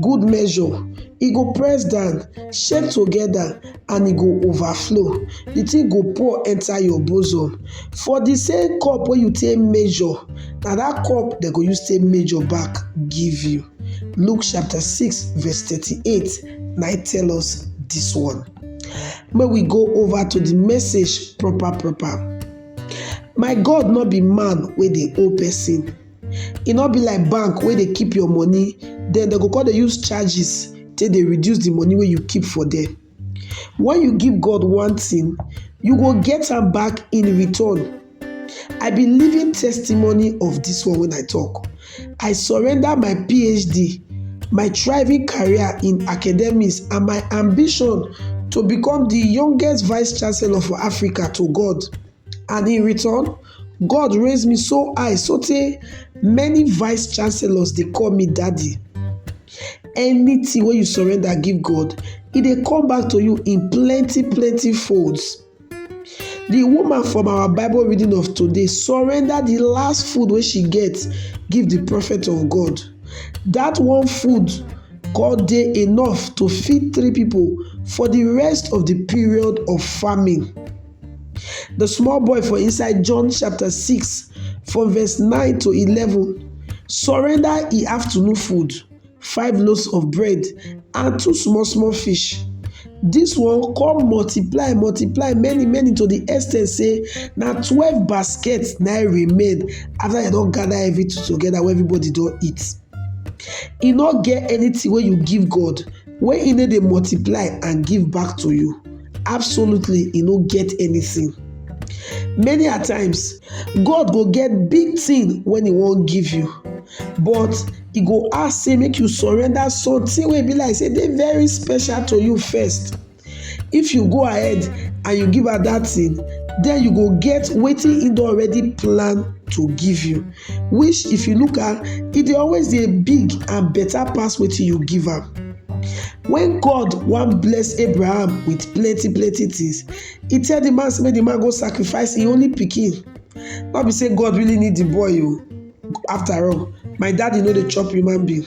good measure e go press down shake together and e go overflow the thing go pour enter your bosom for the same cup wey you take measure na that cup dem go use take measure back give you luke chapter 6 verse 38 na e tell us this one make we go over to the message proper proper my god no be man wey dey owe person e no be like bank wey dey keep your money then dem go come dey use charges take dey reduce the money wey you keep for there when you give God one thing you go get am back in return I be living testimony of this one when I talk I surrender my PhD my thriving career in academics and my ambition to become the youngest vice chancellor for Africa to God. And in return, God raise me so high sotey many vice chancellors dey call me daddy. Anything wey you surrender give God, e dey come back to you in plenty plenty folds. The woman from our Bible reading of today surrender the last food wey she get give the prophet of God. That one food come dey enough to feed three people for the rest of the period of famine. The small boy for inside John chapter 6 from verse 9 to 11 surrender e afternoon food, five loaves of bread and two small small fish. This one come multiply multiply many many to the extent say na twelve baskets na remain after dem don gather everything together wey everybody don eat. E no get anything wey you give God Wey e no dey multiply and give back to you, absolutely e no get anything. Many a times, God go get big thing when e wan give you, but e go ask say make you surrender something wey e be like say dey very special to you first. if you go ahead and you give her that thing then you go get wetin he don already plan to give you which if you look at e dey always dey big and better pass wetin you give am when god wan bless abraham with plenty plenty things he tell the man say make the man go sacrifice him only pikin no be say god really need the boy o after all my daddy no dey chop human being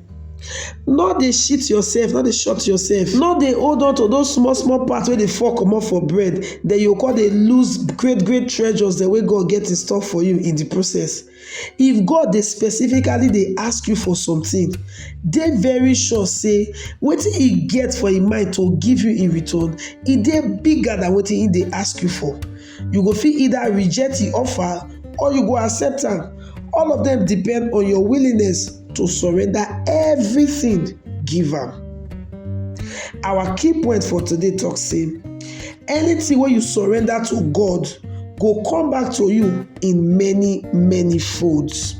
no dey shit yourself no dey short yourself no dey hold on to those small small part wey dey fall comot for bread then you go come dey lose great great treasures dem wey God get in store for you in the process if God dey specifically dey ask you for something dey very sure say wetin he get for him mind to give you in return e dey bigger than wetin he dey ask you for You go fit either reject the offer or you go accept am. All of them depend on your willingness to surrender everything give am. Our key point for today talk say anything wey you surrender to God go come back to you in many many folds.